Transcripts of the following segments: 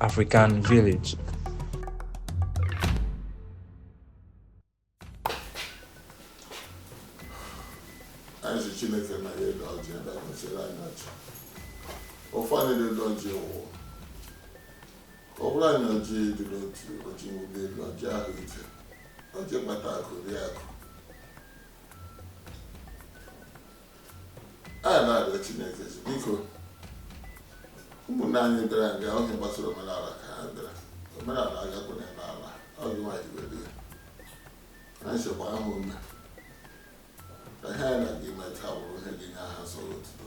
African Village. Anyị sị Chineke na ya edo ọjị ebe a gọziere anyị ọjị. Ofe anyị na-edo ọjị ụwa. Ọ bụrụ anyị ọjị ịdị n'otu ọjị nwụde elu ọjị ahụ ike. Ọjị kpata akụ rie akụ. anyị na-arịọ Chineke sị, biko ụmụnna anyị bịara nga ihe gbasara omenala ka ha bịara omenala agakwu na ebe ala ọ gị nwaanyị were ya anyị sịkwa ya mee ka ihe anyị na-aga ime taa bụrụ ihe ga-enye aha nsọ ya otuto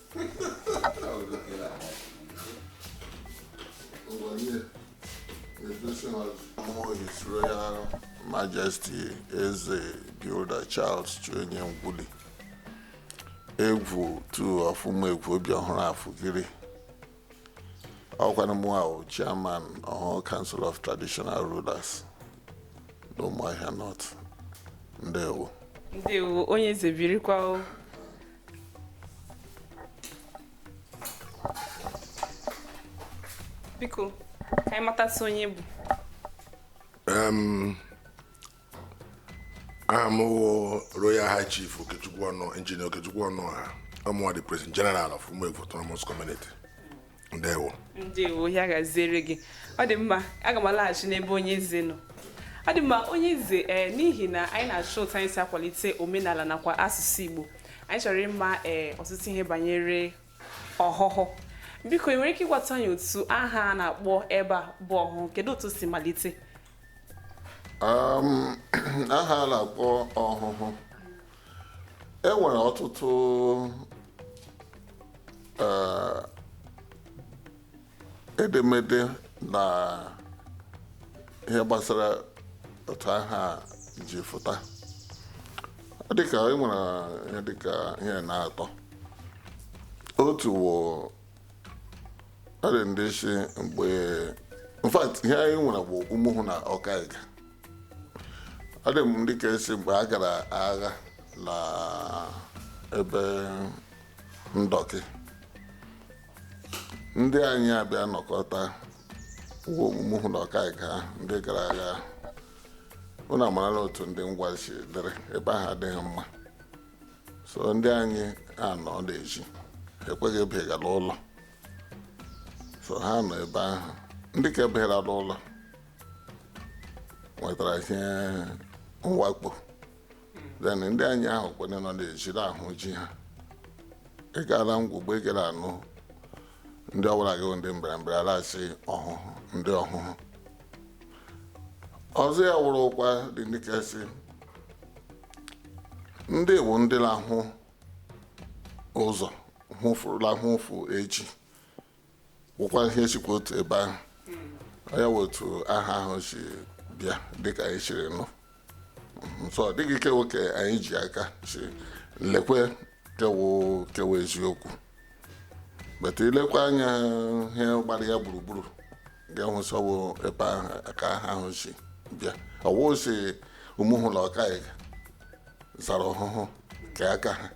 His Royal Majesty Eze Builder Charles Chionye Ngwuli Egwu two of Ụmụegwu obi ọhụrụ afụgiri ọ kwanụ mụwa chairman Ọhụhụ Council of Traditional Rulers n'Ụmụahịa North ndewo ndewo onye eze birikwa o biko ka anyị matasị onye ị bụ Em, aha m wụ royal high chief okechukwu ọnụ engineer okechukwu ọnụọha ọ mụwa the president general of ụmụegwu autonomous community ndewo ndewo ya gaziere gị ọ dị mma aga m alaghachi n'ebe onye eze nọ ọ dị mma onye eze ee n'ihi na anyị na-achọ otu anyị si akwalite omenala nakwa asụsụ igbo anyị chọrọ ịma ee ọtụtụ ihe banyere ọhụhụ biko ị nwere ike ịgwata anyị otu aha a na-akpọ ebe a bụ ọhụhụ kedu otu o si malite Um, aha a na-akpọ ọhụhụ e nwere ọtụtụ eh, edemede na ihe gbasara otu aha ji fụta Ọ dịka e nwere ihe dịka ihe na atọ otu wụ ọ dị ndị sị mgbe in fact ihe anyị nwere wụ ụmụhụ na ọkaiga ọ dị ndị ke sị mgbe a gara agha na ebe ndọkị ndị anyị abịa nọkọta ọ wụ ụmụhụ na ọkaiga ndị gara agha unu amarala otu ndị ngwa si dịrị ebe ahụ adịghị mma so ndị anyị ha nọ la ezi ha ekweghị abaha la ụlọ so ha nọ ebe ahụ ndị ke bahara la ụlọ nwetara ihe mwakpo then ndị anyị ahụ kwene nọ na-ejiri ahụ ji ha ị gara ngwugbe ị gara anụ ndị ọbụla gị bụ ndị mberembe alasị ọhụhụ ndị ọhụhụ ọzọ ya wụrụkwa dịka sị ndị bụ ndị na-ahụ ụzọ hụfurula hụfu echi gwụkwa ihe sikwa otu ebe ahụ ọ ya wụ otu aha ahụ si bịa dịka anyị siri nụ so ọ dịghị ke wụ ke anyị ji aka sị lekwe ke wụ ke wụ eziokwu but i lekwa anya ihe gbara ya gburugburu ga-ahụ sị ọ wụ ebe ahụ ka aha ahụ si bịa ọ wụ sị ụmụhụ na ọkaiuga zara ọhụhụ ke aka ha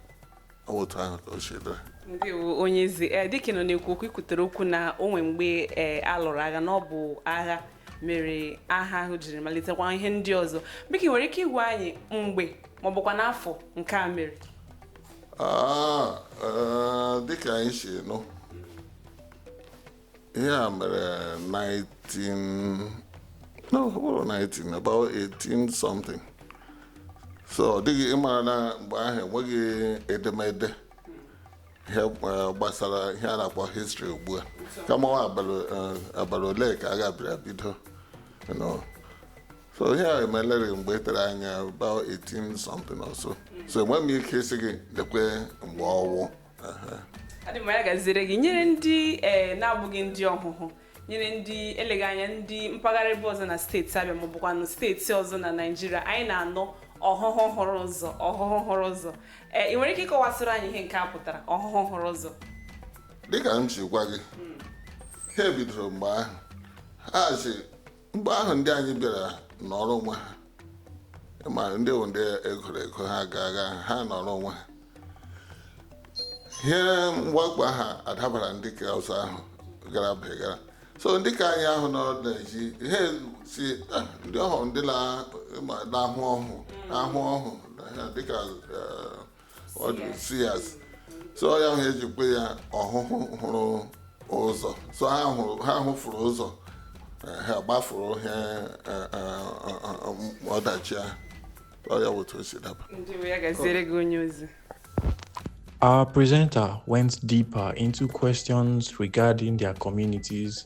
otu ahụ ka o si dịrị ndewo onye eze ee dịka ị nọ na-ekwu okwu i kwutere okwu na o nwee mgbe ee a lụrụ agha na ọ bụ agha mere aha ahụ jiri malitekwa ihe ndị ọzọ biko ị nwere ike ịgwa anyị mgbe ma ọ bụkwanụ afọ nke a mere Ah, eh, dịka anyị si nụ ihe a mere 19 no ọ bụghị 19 about 18 something so ọ dịghị ị mara na mgbe ahụ enweghị edemede ihe eh, gbasara ihe a na-akpọ histrị ugbu a kama ọ abalị eh, abalị ole ka a ga-abịa bido you know. so ihe a emeleri mgbe tere anya about 18 something or so so enweghị m ike ịsị gị lekwe mgbe ọ wụ ọ dị mma ya gaziere gị nyere ndị eh, na-abụghị ndị ọhụhụ nyere ndị eleghị anya ndị mpaghara ebe ọzọ na steeti abịa ma ọ bụkwanụ steeti ọzọ na naijiria anyị na-anụ ọhụhụ hụrụ ụzọ ọhụhụ hụrụ ụzọ ee eh, ị nwere ike ịkọwasịrị anyị ihe nke a pụtara ọhụhụ hụrụ ụzọ dịka m si gwa gị ihe a bidoro mgbe ahụ ha si mgbe ahụ ndị anyị bịara nọrọ onwe ha ma ndị bụ ndị e goro ego ha ga-aga ha nọrọ onwe ha ihe mwakpo ahụ adabara ndị ka ọzọ ahụ gara begara so ndị ka anyị ahụ nọ na-eji ihe sị "Ah, ndị ọhụhụ ndị na- ma na-ahụ ọhụ na-ahụ ọhụ na ha dịka eh, ndị seers so ya wụ ihe e ji kpọ ya ọhụhụ hụrụ ụzọ so ha hụrụ ha hụfuru ụzọ eh, ha gbafuru ihe eh, eh, eh, ọdachi ahụ ọ ya bụ otu o si daba ndewo ya gaziere gị onye eze Our presenter went deeper into questions regarding their communities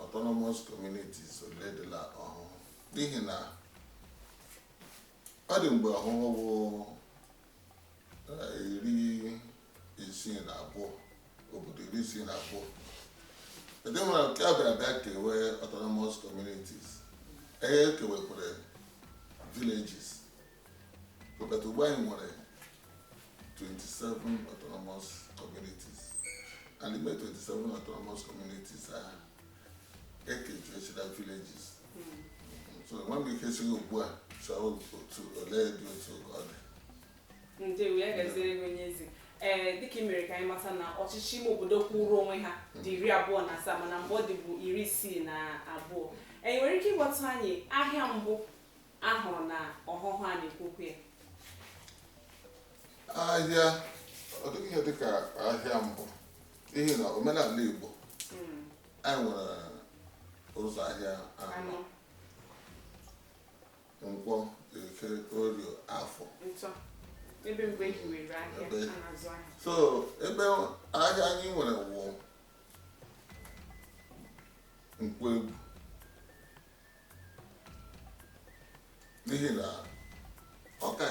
autonomous communities ole dị la ọhụhụ n'ihi na ọ dị mgbe ọhụhụ bụ eh, iri isii na abụọ obodo iri isii na abụọ ndị nwere nke a bịara bịa kewe autonomous communities e kewekwere villages but ugbu a anyị nwere 27 autonomous communities and ime 27 autonomous communities ahụ ekejuechila villages so nwa m ike sị gị ugbu a chọọ otu ole dị otu ka ọ dị ndewo ya gaziere gị onye eze ee dịka ị mere ka anyị mata na ọchịchị ime obodo kwụrụ onwe ha dị iri abụọ na asaa mana mgbe ọ dịbu iri isii na abụọ ee ị nwere ike ịgwatụ anyị ahịa mbụ A hụrụ na ọhụhụ a na-ekwu okwu ya. ahịa ọ dịghị ihe dịka ahịa mbụ n'ihi na omenala igbo Mm, anyị nwere ụzọ ahịa anọ Anọ, nkwọ eke orie afọ ntọ. Ebe mgbe e hiwere ahịa, Ebe. a na-azụ ahịa. so ebe ahịa anyị nwere wụ nkwọ egwu n'ihi na ọ ka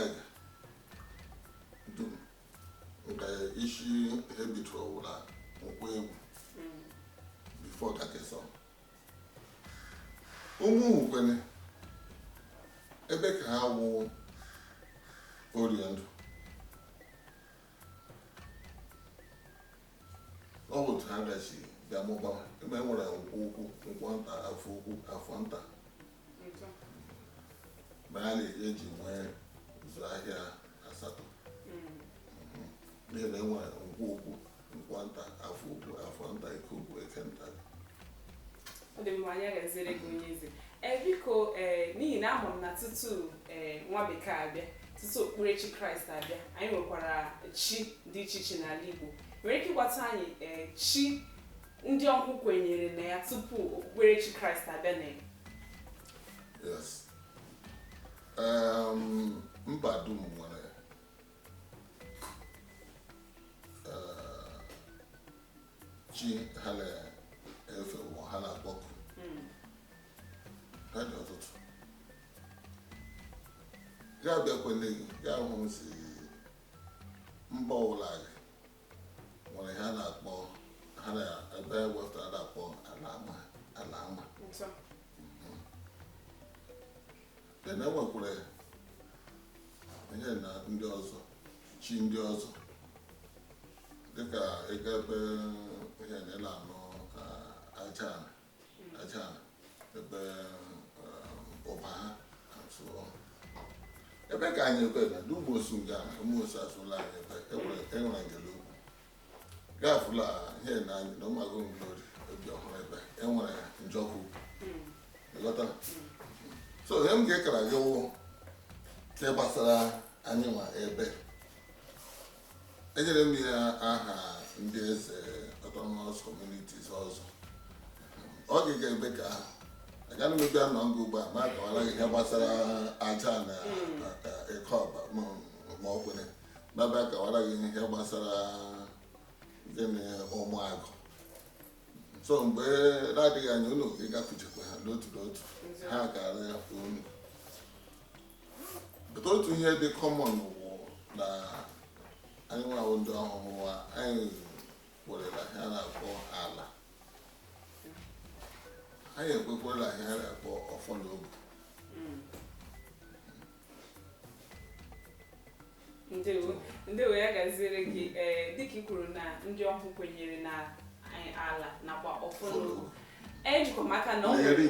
dum nke isi ihe bitụrụ ọ wụ la nkwọ egwu before ka kesọ ụmụ ukwene ebe ka ha wụ orie ndụ ọ bụ otu ha bịazi bịa mụbawa ebe e nwere nkwọ ukwu nkwọ nta afọ ukwu afọ nta ma a na-eji nwee ụzọ ahịa asatọ n'ihi na e nwere nkwọ ukwu nkwọ nta afọ ukwu afọ nta eke ukwu eke nta ọ dị mma ya gaziere gị onye eze ee biko ee n'ihi na ama m na tutu ee nwa bekee abịa tutu okpukperechi kraịst abịa anyị nwekwara chi dị iche iche n'ala igbo ị nwere ike ịgwatụ anyị ee chi ndị ọhụhụ kwenyere na ya tupu okpukperechi kraịst abịa na ya yes um, mba dum nwere chi ha na-efe ma ha na-akpọku ha dị ọtụtụ ya bịakwele gị ya hụ m si mba ọbụla gị nwere ha na-akpọ ha na ebe wepụtara na-akpọ ala ama ala ama ntọ e nwekwara ihe na ndị ọzọ chi ndị ọzọ dịka ị gaa ebe ihe na ịla anụ aja aja ebe Ubaha ebe ka anyị ebe na ndị Ụmụosu nga Ụmụosu asụla anyị ebe e nwere ngele ugwu gafula ihe na anyị na ụmụagụ Ngolori Obiọhụrụ ebe e nwere njọkụ ị ghọta so ihe m ga-ekara gị wụ nke gbasara anyị nwa ebe e nyere m ya aha ndị eze autonomous communities ọzọ ọ ga-eka ebe ka ahụ agaghị m abịa nọ nga ugbu a m akawala gị ihe gbasara aja na ịkọ ọba ma ọ kwere baba kọwara gị ihe gbasara gịnị ụmụagụ so mgbe na-adịghị anya unu ịgakwuchekwa ha n'otu n'otu ha gara ya fụ unu but otu ihe dị common wụ na anyị nwa wụ ndị Ọhụhụ wa anyị kwere la ihe a na-akpọ ala anyị ekwekwa la ihe a na-akpọ ọfọ na ogu ndewo ndewo ya gaziere gị ee eh, dịka ị kwuru na ndị Ọhụhụ kwenyere na eh, ala nakwa ọfọ na ogu ejikwa m aka na o nwere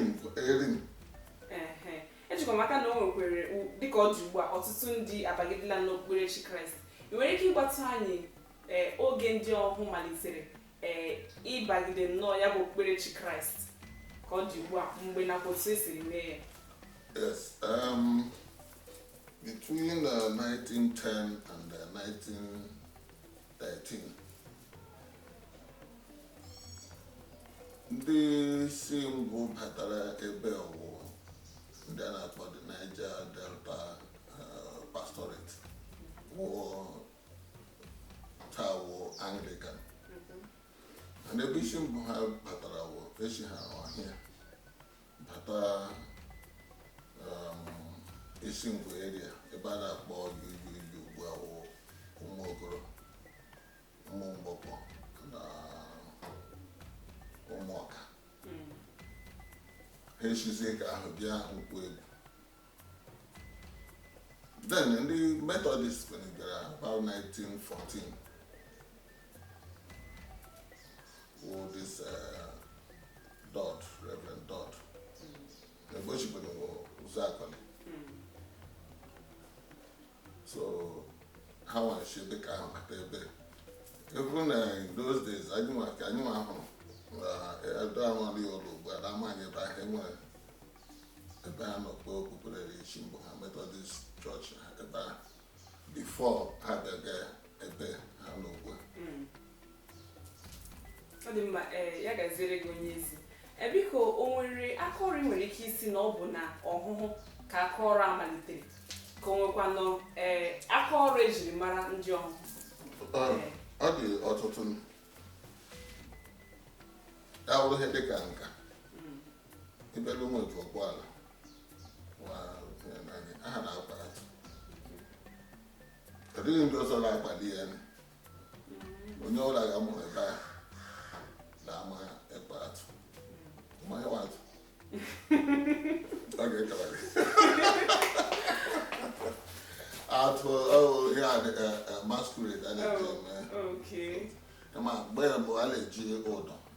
ejikwa m aka na o nwekwere dịka ọ dị ugbu a ọtụtụ ndị abagidela n'okpukperechi kraịst ị nwere ike ịgwatụ anyị eh, oge ndị Ọhụhụ malitere ee ịbagide nnọọ ya bụ okpukperechi kraịst ka ọ dị ugbu a mgbe nakwa otu e siri mee ya yes um, between uh, 1910 and uh, 1913 ndị si mbụ batara ebe a wụ ndị a na-akpọ the Niger Delta uh, pastorate wụọ ha wụ Anglican mana ebe isi mbụ ha batara wụ e si ha ọhịa bata um, Isingwu area ebe a na-akpọ UUU ugbu a wụ Ụmụokoro Ụmụmgbọkọ na Ụmụọka ha esizie ka ahụ bịa Nkwọegwu then ndị Methodist bịara about 1914 wụ this uh, Dodds Reverend Dodds egbochibere Ụzụakọlị so ha nwere chi ebe ka ha mata ebe ebe na in those days anyị nwa ka anyị nwa hụrụ na edo ahụ ọrụ ya ụlọ ugbu a na ama anyị ebe ahụ e nwere ebe a nọ kpọọ okpukperechi mbụ ha Methodist church ha ebe a before ha bịaga ebe ha nọ ugbu a Mm. ọ dị mma ee ya gaziere gị onye isi e biko o nwere aka ọrụ ị nwere ike ịsị na ọ bụ na ọhụhụ ka aka ọrụ a malitere ka o nwekwanụ ee aka ọrụ ejiri mara ndị ọhụhụ Ọ- ọ dị ọtụtụ ya wụrụ ihe dịka nka ịbịala ụmụ otu ọkpọ ala aha na-akpa ya ọ dịghị ndị ọzọ na-akpali ya onye ọla ga-amụrụ ebe a na-ama ekpe atụ mmanya atụ ọ ga-ekele gị atụ ihe a dịka masquerade a na-eji eme kama mgbe mbụ a na-eji ụdọ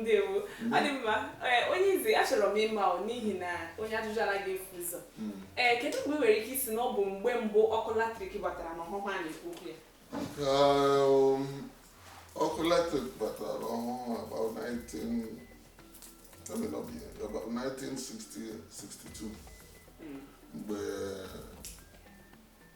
ndewo ọ dị mma onye isi achọrọ m ịma n'ihi na onye ajụjụ anaghị efu ụzọ hmm. ee kedu mgbe ị nwere ike ịsị na ọ bụ mgbe mbụ ọkụ latrik batara na ọhụhụ a na-ekwu okwu ya um, ọkụ latrik batara na ọhụhụ about 19 about 1962 hmm. mgbe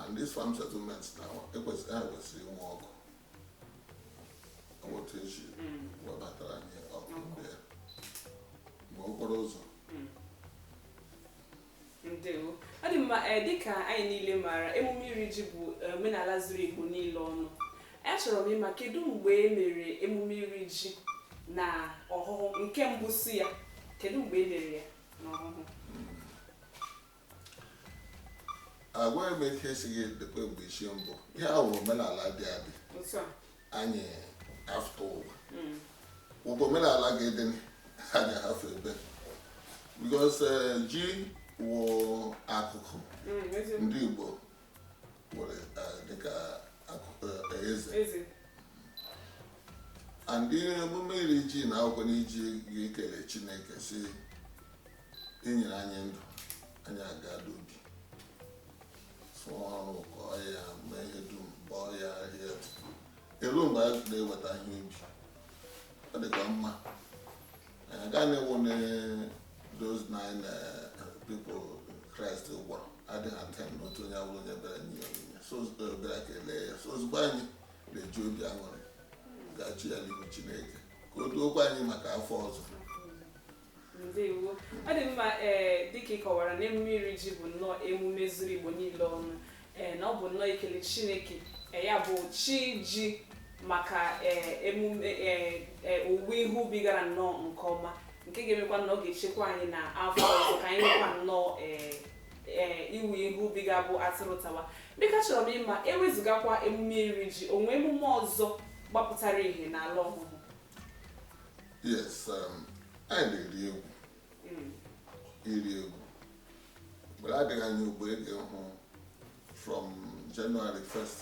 and these farm settlements now ekwesịrị ha kwesịrị inwe ọkụ otu eji webatara anyị ọkụ ndị a ma okporo ụzọ ndewo ọ dị mma eh, dịka anyị niile maara emume iri ji bụ eh, omenala zuru igbo niile ọnụ achọrọ m ịma kedu mgbe e mere emume iri ji na ọhụhụ nke mbụ si ya kedu mgbe e mere ya na ọhụhụ agaghị m ike ịsị gị lekwe mgbe isi mbụ ihe a wụ omenala dị adị anyị afụta ụwa ọ bụ omenala ga-adị anyị ahafụ ebe because eh, ji wụ akụkụ mm, ndị Igbo nwere eh, dịka eh, eze and emume iri ji na akwụkwọ n'iji gị kele Chineke sị i nyere anyị ndụ anyị aga n'ubi sụọ ọrụ kọọ ya mee ihe dum bọọ ya ahịhịa eruo mgbe anyị na-eweta ihe ubi ọ dịkwa mma anyị agaghị na-ewu na those nine eh, people Christ gwọrọ adị ha ten n'otu onye awụrụ onye bịara nye ya onyinye so ozugbo ọ bịara kelee ya so ozugbo anyị na-eji obi aṅụrị ga chee ya n'ihu Chineke ka o duokwa anyị maka afọ ọzọ ndewo ọ dị mma ee dịka ị kọwara na emume iri ji bụ nnọọ emume zuru igbo niile ọnụ ee na ọ bụ nnọọ ikele chineke ee, ya bụ chi ji maka ee, emume ee, ee, owuwe ihe ubi gara nnọọ nke ọma nke ga-emekwa na ọ ga-echekwa anyị na afọ ọzọ ka anyị nwekwa nnọọ ee, ee, iwe ihe ubi ga-abụ atụrụ tawa dịka achọrọ m ịma ewezụgakwa emume iri ji o nwe emume ọzọ gbapụtara ihe n'ala ọhụhụ yes um, anyị na-eri egwu hmm. iri egwu mgbe adịghị anya ugbo ị ga-ehụ from January 1st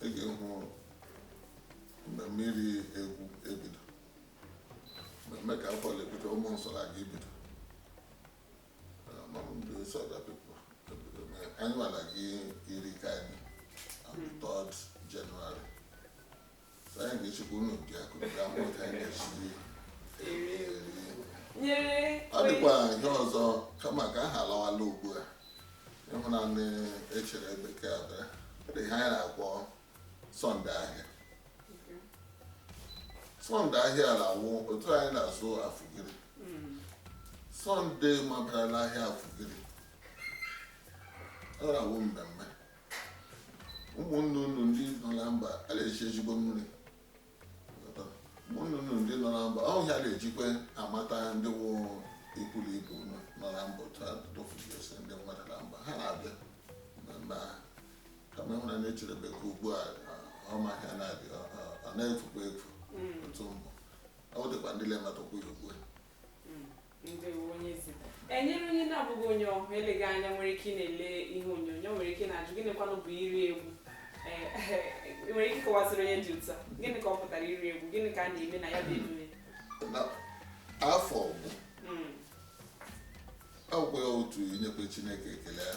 ị ga-ehụ mmemme iri egwu ebido mmemme ka afọ ebido ụmụ nsọ na-aga ibido anyị nwa na-aga iri nke anyị on the 3rd January ọ dịkwa ihe ọzọ kama ka aha alawala ugbu a ịhụ na ndị echere bekee abịa dị ihe anyị na-akpọ sọnde ahịa sọnde ahịa na-awụ otu anyị na-azụ afụgiri sọnde mabara n'ahịa afụgiri ọ na-awụ mmemme ụmụnne unu ndị nọ na mba a na-eji ezigbo mmiri ụmụnne unu ndị nọ na mba ọ ya na-ejikwa amata ndị wụ ikwu na ibe unu nọ na mba otu a dofugesi ndị mmadụ na mba ha na-abịa na mba ha kama ịhụna na-echelebe ka ugbu a ọ ma ha na-abịa ọ- ọ- ọ na-efukwa efu otu mbụ ọ dịkwa ndị na-emetụkwa ya ugbu a enyere onye na-abụghị onye ọhụhụ eleghị anya nwere ike ịna-ele ihe onyonyo nwere ike na-ajụ gịnịkwanụ bụ iri egwu eh, nwere ike ịkọwasịrị onye dị otu a gịnị ka ọ pụtara iri egwu gịnị ka a na-eme na ya bụ emume afọ ọhụụ hmm. ọ wụkwa ya otu inyekwe chineke ekele ya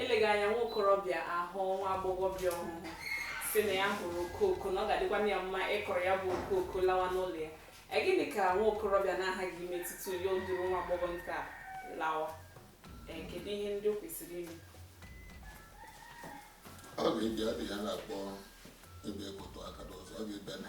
eleghị anya nwa okorobịa ahụ nwa agbọghọbịa ọhụhụ sị na ya hụrụ okooko na ọ ga-adịkwana ya mma ịkọrọ ya bụ okooko lawa n'ụlọ ya E, gịnị ka nwa okorobịa na-aghaghị ime tutu ya eduru nwa agbọghọ nke a lawa E, kedu ihe ndị o kwesịrị ime ọ ga-abịa dị ihe a na-akpọ ịbịa ịkụtụ aka n'ụzọ ọ ga-ebene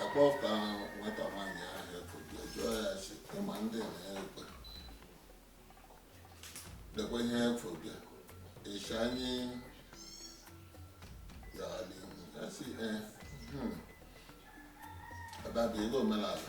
a kpọpụta nwata nwaanyị ahụ ekwubi jụọ ya sị ị ma ndị na-ekwe dekwe ihe ekwubi ịsha anyị ya ọ dị ya sị ee ọdabi ego omenala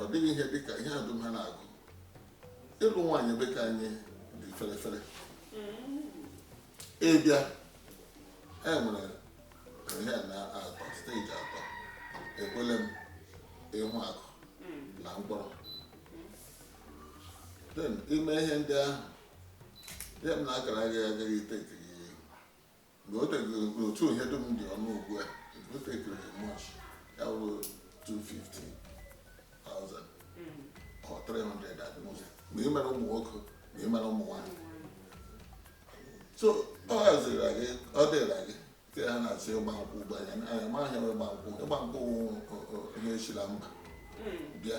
ọ dịghị ihe dị ka ihe dum ha na-agụ ịlụ nwaanyị ebe ka anyị dị fere fere ịbịa e nwere ihe na atọ stage atọ ekwele m ịhụ akụ na mkpọrọ then ime ihe ndị ahụ ihe m na-akara agaghị agaghị ịtake gị na o teghị n'otu ihe dum dị ọnụ ugbu a o teghị much ya bụ 250,000 or 300 at most ma ị mara ụmụ nwoke ma ị mara ụmụ nwaanyị so ọ haziri gị ọ dịra gị te ha na-asị ịgba nkwụ ugbu a anyị amaghị ịgba nkwụ ịgba nkwụ na-esila mba bịa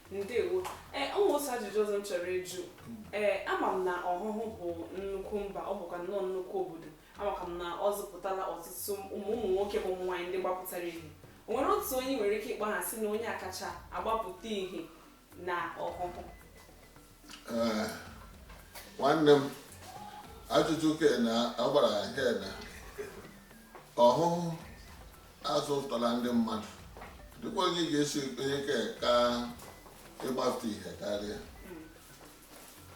ndewo ee eh, o nwere otu ajụjụ ọzọ m chọrọ ịjụ ee eh, ama m na ọhụhụ bụ nnukwu mba ọ bụkwa nnọọ nnukwu obodo amakwa m na ọ zụpụtala ọtụtụ ụmụ ụmụ nwoke bụ ụmụ nwaanyị ndị gbapụtara ihe o nwere otu onye nwere ike ịkpọ aha sị na onye a kacha agbapụta ihe na ọhụhụ Eh, nwanne m ajụjụ kena agbara ya kena ọhụhụ azụtala ndị mmadụ dịkwa onye ga-esi onye ke ka ịgbafụta ihe karịa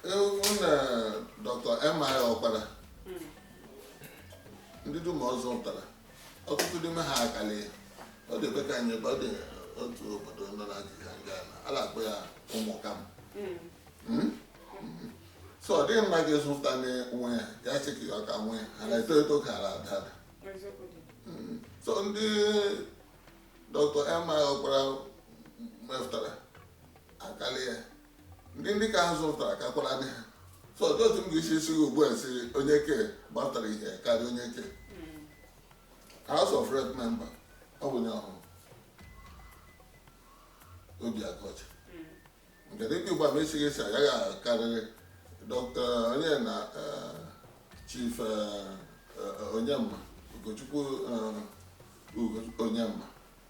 even dr M.I. ọkpara ndị dum ọ zụtara ọtụtụ n'ime ha akala ọ dịkwa ka anyị ọ dị otu obodo nọ na Naịjirịa nga a na-akpọ ya ụmụkam hmm. hmm? hmm. so ọ dịghị mma gị zụta nwa ya ya sị ka ọ ka nwa ya ha na-eto eto ka ala ada ada so ndị dọkịta M.I. ọkpara mepụtara akala ya ndị ndị ka ha zụtara kakwaranụ ha so dị otu m ga-esi sị gị ugbu a sị onye ke gbatara ihe karịa onye ke house of rep member ọ bụ onye ọhụhụ obi aguocha nke dịka ugbu a ma esighị esi agaghị akarịrị dọkta onye na eh, chief eh, eh, onyema ugochukwu eh, Ugo- onyema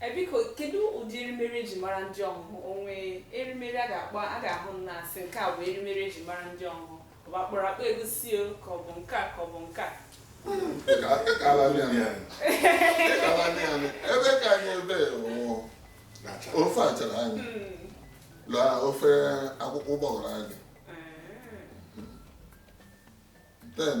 E, biko kedu ụdị erimeri e ji mara ndị ọhụhụ o nwere erimeri a ga-akpọ a ga-ahụ na asị nke a bụ erimeri e ji mara ndị ọhụhụ ọ bụ akpụrụ akpụ egusi o ka ọ bụ nke a ka ọ bụ nke a ebe ka anyị ebe nwụọ ofe achara anyị la ofe akwụkwọ ụgbọghọrọ anyị then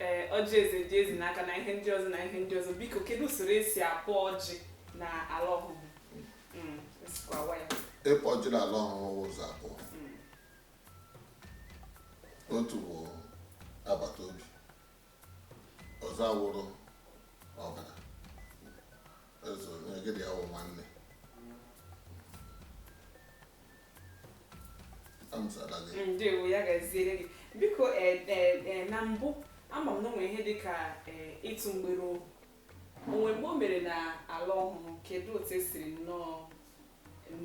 ee ọjị eze dị eze n'aka na ihe ndị ọzọ na ihe ndị ọzọ biko kedu usoro e si akpọ ọjị na ala Ọhụhụ mm, ịkpọ ọjị na ala Ọhụhụ ụzọ abụọ mm. otu bụ agbata obi ọzọ awụrụ ọbara eze onye gị na ya wụ nwanne ndewo ya gaziere gị biko eh, eh, eh, na mbụ ama m na o nwe ihe dịka ịtụ mgbere ohu o nwe mgbe o mere na ala Ọhụhụ kedu otu e siri nnọọ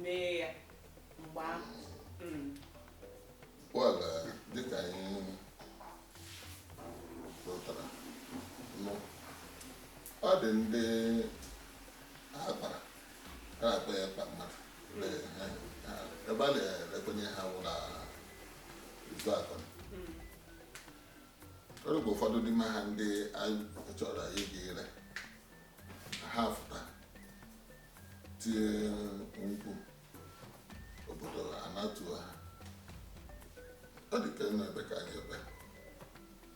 mee ya mgbe ahụ hmm. dịka anyị pụtara ọ dị ndị ha kpara ha akpa ya kpa mmadụ ebe a na-erekwenye ha wụ na Ụzụakọlị bụ ụfọdụ n'ime ha ndị a chọrọ ịga ire ha fụta tie mkpu obodo anatuo ha ọ dị ka ebe ka anyị ebe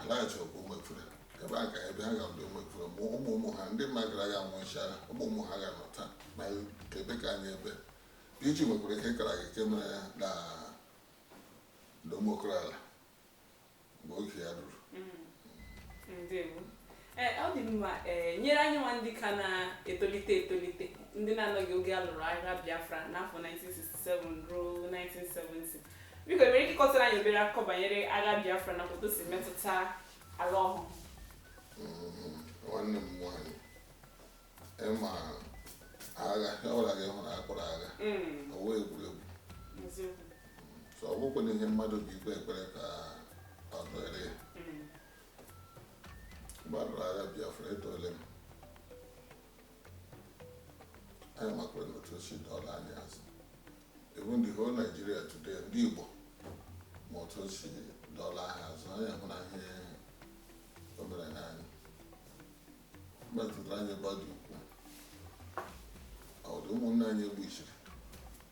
Alaịt bụ ụmụ Efere ebe a ka ebe ha ga-abụ ụmụ Efere ma ụmụ ụmụ ha ndị mmadụ gara ya nwụchara ụmụ ụmụ ha ga-anọ taa ma ebe ka anyị ebe e ji nwekwara ihe kara gị nke mere ya na na ụmụ okoro ala mgbe oge ya ruru ndewo Eh, ọ dị mma ee eh, nyere anyị nwa ndị ka na-etolite etolite ndị na-anọghị oge a lụrụ agha Biafra n'afọ 1967 ruo 1970 biko i nwere ike ịkọtara anyị obere akụkọ banyere agha Biafra na otu o si metụta ala Ọhụhụ mm-hmm. nwanne m nwaanyị ị ma agha ọbụla gị hụrụ a kpọrọ agha mm. ọ wụghị egwuregwu ọ bụkwa na ihe mmadụ bụ ikpe ekpere ka ọ dịrị ya mgbe a lụrụ agha Biafra etole m anyị makwara na otu o si dọla anyị azụ even the whole Nigeria today ndị Igbo ma otu o si dọla ha azụ anyị ahụ na ihe o mere na anyị metụtara anyị ebe ọ dị ukwuu ọ dị ụmụnne anyị e gbusiri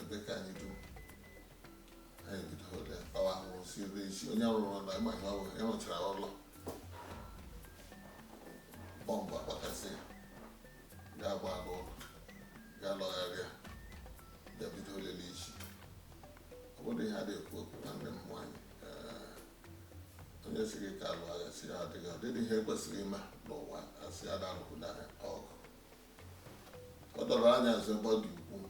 ebe ka anyị dum anyị bido ole kpawa ahụhụ si ebe isi onye rụrụ ọrụ ị ma ihe ọbụla ya rụchara ụlọ bọmbụ akpakasị ya gba agụ ụlọ ya lọgharịa ya bido olele isi ọ bụrụ ihe a na-ekwu okwu na ndị mmụọ anyị onye sị gị ka a lụọ agha sị ya adịghị ọ dịghị ihe kwesịrị ime n'ụwa a sị ya na-alụkwụ na ọgụ ọ dọrọ anya nso ebe ọ dị ukwuu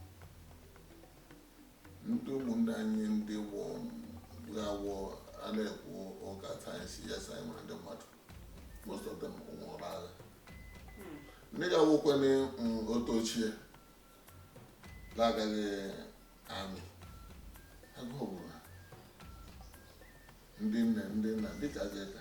ndị ụmụnne anyị ndị wụ ndị awụ a na-ekwu ụka sayensị ya sayị nwere ndị mmadụ most of them nwụrụ n'agha ndị ga-awụkwene otu ochie na-agaghị amị agụụ gburu ha ndị nne ndị nna dịka gị ka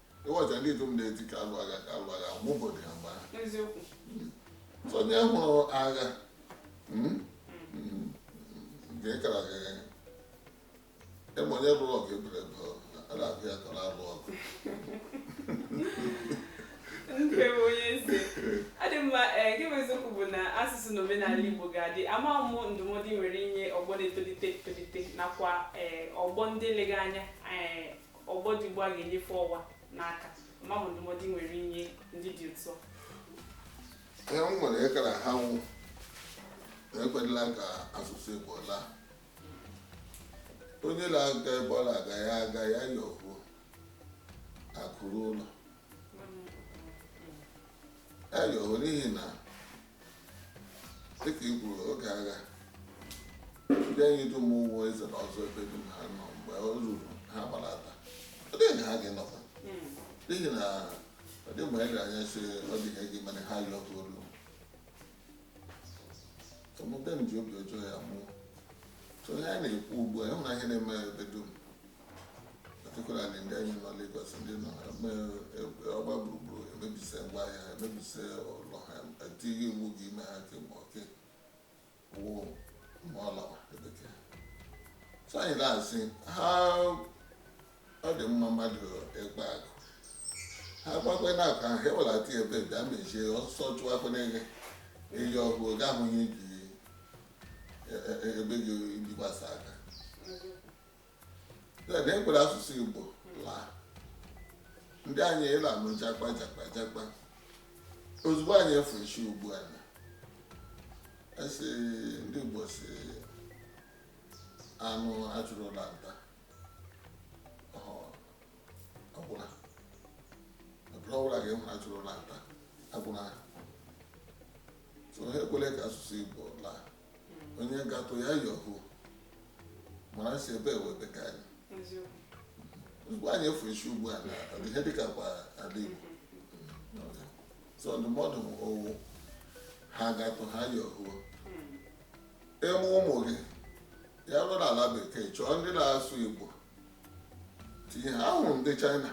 ịghọcha ndị ikom na-eti ka a lụ agha ka a lụ agha ọgwụgwọ dị ha mgbe ahụ eziokwu so onye hụrụ agha mm, mm, nke kara gị ịma onye lụrụ ọgụ ebere ebe ọ a na-agụ ya ka ọ na-alụ ọgụ nke bụ onye eze ọ dị mma ee nke bụ eziokwu bụ na asụsụ na omenala Igbo ga-adị ama mụ ndụmọdụ i nwere inye ọgbọ na-etolite etolite nakwa ee ọgbọ ndị lega anya ee ọgbọ dị ugbu a ga-enyefe ọwa n'aka ama mụ ndụmọdụ i nwere inye ndị dị otu a ihe m nwere ịkara ha wụ na ekwela ka asụsụ Igbo laa onye na-aga ebe ọ na-aga ya aga ya ya ohu akụ ruo ụlọ ya ya ohu n'ihi na dịka i kwuru oge agha ndị anyị dum ụmụ ezi na ụzọ ebe dum ha nọ mgbe ọ ruru ha gbalata ọ dịghị na ha ga-enọkwa n'ihi na ọ dị mgbe anyị anya si ọ dị ihe gị mere ha yọ ọkụ olu omume m ji obi ọjọọ ya mụọ so ihe anyị na-ekwu ugbu a ị hụ na ya na-eme ebe dum particularly ndị anyị nọ Lagos ndị nọ eme egbe ọgba gburugburu emebise ngwa ahịa ha emebise ụlọ ha etighị iwu gị ime ha ke ma oke wụ ma ọ lawa ebeke so anyị na-asị ha ọ dị mma mmadụ ịkpa akụ ha kpakwe na akụ ahụ ha ewelata ya ebe bịa mechie ọsọ chụwa afọ n'ege eyi ọgụ oge ahụ ihe ji e- e- ebe gị bikwasa aka ekwela asụsụ Igbo laa ndị anyị ịla anụ jakpa jakpa jakpa ozugbo anyị efuchie ugbu a anyị asị ndị Igbo sị anụ a chụrụ laa nta agwụla ọbụla ga-enwe a chụrụ laa nta agwụla so ha ekwele ka asụsụ Igbo laa onye gatụ ya yọhu mara si ebe ewebe ka anyị ozugbo anyị efu isi ugbu a na ihe dịka kwa ala Igbo so ndụmọdụ m ọ wụ ha gatụ ha yọhu ị mụọ ụmụ gị ya bụrụ na ala bekee chọọ ndị na-asụ Igbo tinye ha ahụrụ ndị China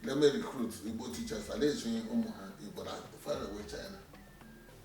na-eme recruit Igbo teachers a na-ezi ụmụ ha Igbo na faraway China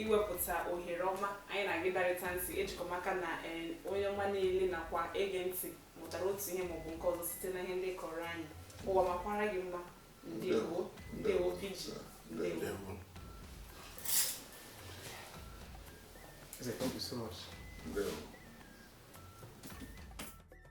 iwepụta ohere ọma anyị na gị darịta ntị ejikọ m aka na eh, onye ọma niile nakwa ege ntị mụtara otu ihe maọbụ nke ọzọ site na ihe ndị ị kọọrọ anyị ụwa makwara gị mma ndewo ndewo PG ndewo Thank you so much. Ndewo.